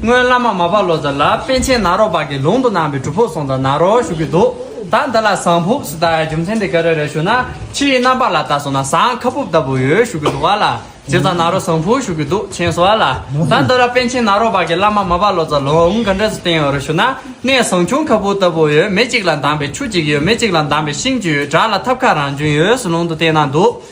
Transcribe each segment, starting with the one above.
སྔོན་བླ་མ་མ་པ་ལོ་ཙཱ་ལ་པན་ཆེན་ནཱ་རོ་པ་གི་ལུང་དུ་གནང་བའི་སྒྲུབ་ཕུག་སོང་དང་ནཱ་རོ་བཞུགས་ཀྱི་འདུག་ད་འདི་ལ་ཟངས་ཕུབ་སུ་བཏགས་ཡ་རྒྱུ་མཚན་དེ་ག་རེ་རེད་ཞུ་ན་ཕྱི་ཡི་རྣམ་པ་ལ་བལྟ་སོང་ན་ཟངས་ཁ་ཕུབ་ལྟ་བུ་ཡོད་བཞུགས་ཀྱི་འདུག་བ་ལ་རྗེ་ཙཱ་ནཱ་རོ་ཟངས་ཕུག་བཞུགས་ཀྱི་འདུག་མཁྱེན་སོང་བ་ལ་ད་འདི་ལ་པན་ཆེན་ནཱ་རོ་པ་གི་བླ་མ་མ་པ་ལོ་ཙཱ་ལུང་ག་འདྲ་སུ་བསྟན་ཡོད་རེད་ཞུ་ན་གནས་ཟངས་ཆུང་ཁ་ཕུབ་ལྟ་བུ་ཡོད་མེ་གཅིག་ལ་འདང་པའི་ཆུ་གཅིག་ཡོད་མེ་གཅིག་ལ་འདང་པའི་ཤིང་གཅིག་ཡོད་བྲག་ལ་ཐབ་ཁ་རང་བྱུང་ཡོད་སུ་ལུང་དུ་བསྟན་གནང་འདུག།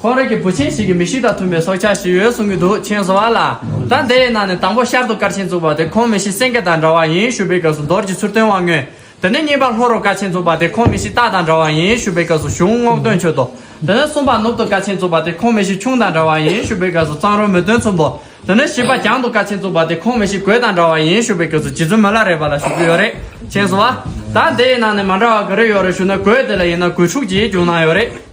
ཁོང་རིགས་ཀྱི་བུ་ཆེན་ཞིག་གིས་མི་ཞིག་དང་མཐུན་པའི་སྲོག་ཆགས་ཤིག་ཡོད་གསུང་གི་འདུག་མཆན་བཟོ་བ་ལགས། ད་དེའི་ནང་ནས་དང་པོ་ཤར་དུ་སྐར་ཆེན་བཙུགས་པ་དེ་ཁོང་མི་ཤི་སེང་གེ་དང་འདྲ་བ་ཡིན་ཞུ་བའི་སྐབས་སུ་རྡོར་གྱི་ཚུར་སྟོན་དབང་མངོན། དེ་ནས་གཉིས་པར་ལྷོ་རུ་སྐར་ཆེན་བཙུགས་པ་དེ་ཁོང་མི་ཤི་སྟག་དང་འདྲ་བ་ཡིན་ཞུ་བའི་སྐབས་སུ་གཞུང་རྔོག་སྟོན་ཆོས་ཐོག། དེ་ནས་གསུམ་པར་ནུབ་ཏུ་སྐར་ཆེན་བཙུགས་པ་དེ་ཁོང་མི་ཤི་ཁྱུང་དང་འདྲ་བ་ཡིན་ཞུ་བའི་སྐབས་སུ་གཙང་རོལ་མོ་སྟོན་ཚུམ་པོ། དེ་ནས་བཞི་པ་གྱང་དུ་སྐར་ཆེན་བཙུགས་པ་དེ་ཁོང་མི་ཤི་གོས་དང་འདྲ་བ་ཡིན་ཞུ་བའི་སྐབས་སུ་རྗེ་བཙུན་མོ་བླ་རེད་པ་ལ་ཞུ་རྒྱུ་ཡོད་རེད། མཆན་བཟོ་བ། ད་དེའི་ནང་ནས་མ་འདྲ་བ་ག་རེ་ཡོད་རེ་ཞུ་ན་གོས་དེ་ལ་ཡིན་ན་གོས་ཕྲུག་ཅིག་གྱོན་གནང་ཡོད་རེད།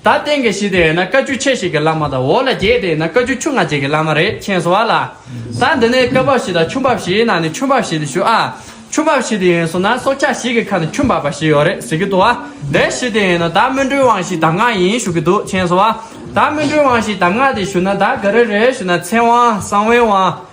ད་སྟེང་གི་བཞི་དེ་བས་ན་བཀའ་བཅུ་ཕྱེད་བཞི་གི་བླ་མ་དང་འོག་ལ་བརྒྱད་དེ་བས་ན་བཀའ་བཅུ་ཆུ་ང་བརྒྱད་ཀྱི་བླ་མ་རེ་མཁྱེན་གསོལ་བ་ལ། ད་འདི་ནས་བཀའ་བབས་བཞི་དང་ཆུ་འབབ་བཞིའི་ནང་ནས་ཆུ་འབབ་བཞི་འདི་ཞུ་ཨ། ཆུ་འབབ་བཞི་དེ་ཡིན་སོང་ན་སྲོག་ཆགས་ཞིག་གི་ཁ་ན་ཆུ་འབབ་པ་བཞི་ཡོད་རེད་ཟེར་གྱི་འདུག་ཨ། དེ་བཞི་དེ་ཡིན་ན་ད་སྨོན་འགྲོའི་དབང་བཞིའི་གདམས་ངག་ཡིན་ཞུ་གི་འདུག་མཁྱེན་གསོལ་བ། ད་སྨོན་འགྲོའི་དབང་བཞིའི་གདམས་ངག་དེ་ཞུ་ན་ད་ག་རེ་རེད་ཞུ་ན་ཚེ་དབང་གསང་བའི་དབང།